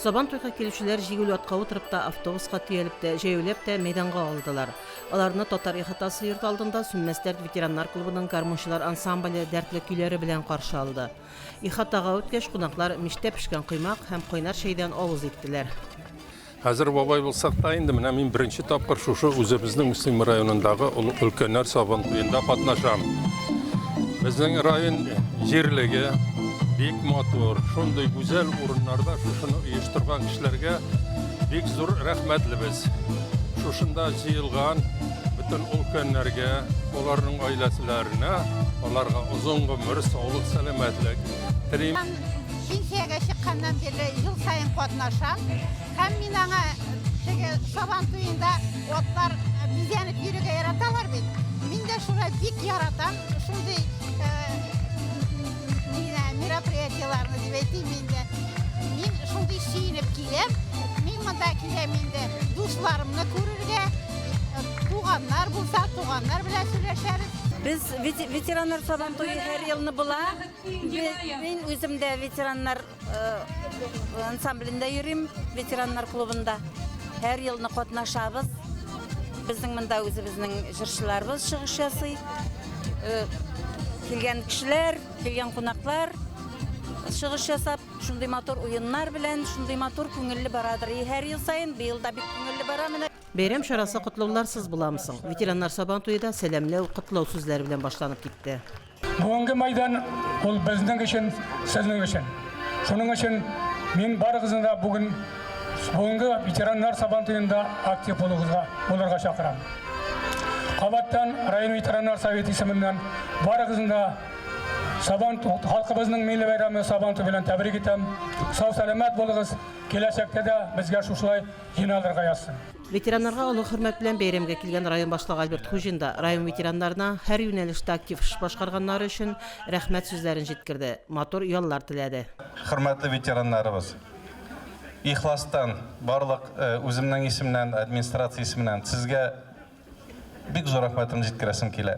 Сабан туйга килүчеләр җигүле атка утырып та, автобуска төялеп тә, җәяүләп тә мәйданга алдылар. Аларны татар ихатасы йорт алдында Сүнмәс дәрт ветераннар клубының гармунчылар ансамбле дәртле көйләре белән каршы алды. Ихатага үткәч, кунаклар мичтә пешкән коймак һәм кайнар чәйдән авыз иттеләр. Хәзер бабай булсак та инде, менә мин беренче тапкыр шушы үзебезнең Мөслим районындагы олы өлкәннәр Сабантуенда катнашам. Безнең район җирлеге бик матур, шундый гүзәл урыннарда шушыны оештырган кешеләргә бик зур рәхмәтлебез. Шушында җыелган бөтен өлкәннәргә, аларның гаиләселәренә, аларга озын гомер, саулык, сәламәтлек телим. Пенсиягә чыкканнан бирле ел саен катнашам. Һәм мин аңа теге Сабан туенда атлар бизәнеп йөрергә яраталар бит. Мин дә шулай бик яратам. Шундый мероприятиеләрне дип әйтим инде. Мин шундый сөенеп киләм. Мин монда киләм инде дусларымны күрергә. Туганнар булса, туганнар белән сөйләшәбез. Без ветераннар сабантуе һәр елны була. Мин үзем дә ветераннар ансамблендә йөрим, ветераннар клубында. Һәр елны катнашабыз. Безнең монда үзебезнең җырчыларыбыз чыгыш ясый. Килгән кешеләр, килгән кунаклар чыгыш ясап, шундый матур уеннар белән, шундый матур күңелле барадыр. И һәр ел саен, быел да бик күңелле бара менә. Бәйрәм чарасы котлауларсыз буламы соң? Ветераннар Сабантуе да сәламләү, котлау сүзләре белән башланып китте. Бүгенге мәйдан ул безнең өчен, сезнең өчен. Шуның өчен мин барыгызны да бүген бүгенге ветераннар сабан туенда актив булугызга булырга чакырам. Кабаттан район ветераннар советы исеменнән барыгызны да сабан халкыбызның милли бәйрәме сабан ту белән тәбрик итәм. Сау-сәламәт булыгыз. Киләчәктә дә безгә шушылай җиналырга язсын. Ветераннарга олы хөрмәт белән бәйрәмгә килгән район башлыгы Альберт Хуҗин да район ветераннарына һәр юнәлештә актив эш башкарганнары өчен рәхмәт сүзләрен җиткерде, матур яллар теләде. Хөрмәтле ветераннарыбыз! Ихластан, барлык үземнең исемнән, администрация исеменнән сезгә бик зур рәхмәтемне җиткерәсем килә.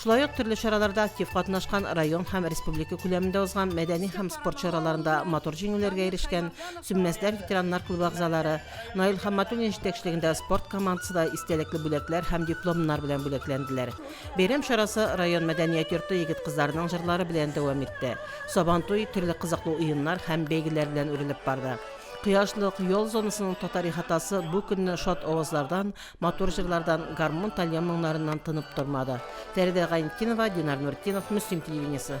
Шулай ук төрле чараларда актив катнашкан, район һәм республика күләмендә узган мәдәни һәм спорт чараларында матур җиңүләргә ирешкән Сүнмәсләр ветераннар клубы әгъзалары, Наил Хамматуллин җитәкчелегендә спорт командасы да истәлекле бүләкләр һәм дипломнар белән бүләкләнделәр. Бәйрәм чарасы район мәдәният йорты егет-кызларының җырлары белән дәвам итте. Сабантуй төрле кызыклы уеннар һәм бәйгеләр белән үрелеп барды. Кояшлык, ял зонасының татар ихатасы бу көнне шат авазлардан, Матур җырлардан, гармун тальян моңнарыннан тынып тормады. Фәридә Гайнетдинова, Динар Нуртдинов, Мөслим телевидениесе.